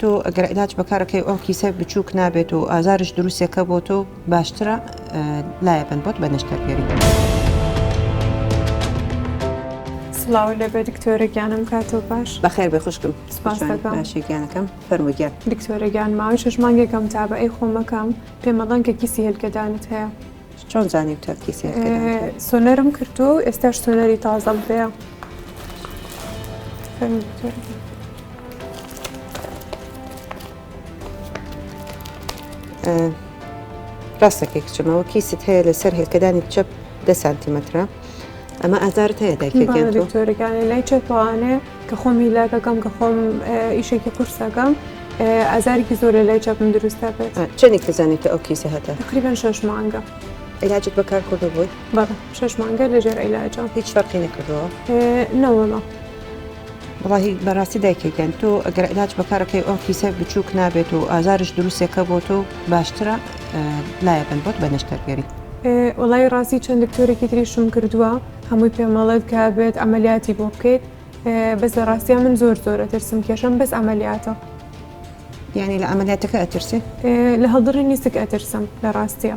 تۆ گەر عیلاج بەکارەکەی ئەو کیسە بچوک نابێت و ئازارش دروستەکە بۆ تۆ باشترە لایەبن بۆت بە نەشتەرگەری. سڵاو لە بێ دکتۆرە گیانم کاتۆ باش بەخێر بێ خوشکم سپاسەکەشێکیانەکەم فەرموگیان دکتۆرە گیان ماوەی شش مانگێکم تا بە ئەی خۆمەکەم پێمەڵەن کە کیسی هێلکەدانت هەیە. چۆن زانی تەرکی سێ سۆنەرم کردو ئێستاش سۆنەری تازەم پێە ڕاستەکەی کچمەوە کیست هەیە لەسەر هێلکەدانی چەپ دە سانتیمەترە ئەمە ئازارت هەیە داکتۆرەکانی لای چەپوانێ کە خۆم هیلاکەکەم کە خۆم ئیشێکی قورسەکەم ئازارێکی زۆر لە لای چاپم دروستە بێت چەندێک تزانێت ئەو کیسە هەتا تقریبان شش مانگە. علاجت بەکار کردو بووی بەڵ شش مانگە لەژێر عیلاجە هیچ فەرقی نەکردەوە نەوەڵە. وەڵاهی بەراستی دایکە گیان تۆ ئەگەر علاج بەکارەکەی ئەو کیسە بچووک نابێت و ئازارش دروستێکە بۆ تۆ باشترە لایەکەن بۆت بە نەشتەرگەری وڵی ڕاستی چەند دکتۆرێکی تریشم کردووە هەمووی پێمەڵێت کە بێت ئەمەلیاتی بۆ بکەیت بەس لە ڕاستیا من زۆر زۆرە ترسم کێشم بەس ئەمەلیاتە یعنی لە ئەمەلیاتەکە ئەترسێ لە هەڵدڕی نیسک ئەترسم لە ڕاستە.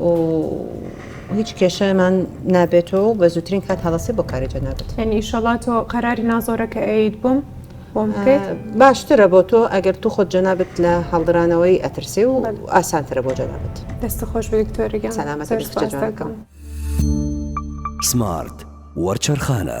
و هیچ کێشەمان نابێتەوە و بە زووترین کات هەڵەسێ بۆ کاری جەنابەت یعنی ئیشەڵا تۆ قەراری نازۆرەکە ئەیت بووم بۆم بکەیت باشترە بۆ تۆ ئەگەر تو خۆت جەنابەت لە هەڵدرانەوەی ئەترسێ و ئاسانترە بۆ جەنابەت دەست خۆش بە دکتۆرەگەم سەلامەت زۆر بێت کچە سوپاس جوانەکەم. دەکەم. سمارت وەرچەرخانە.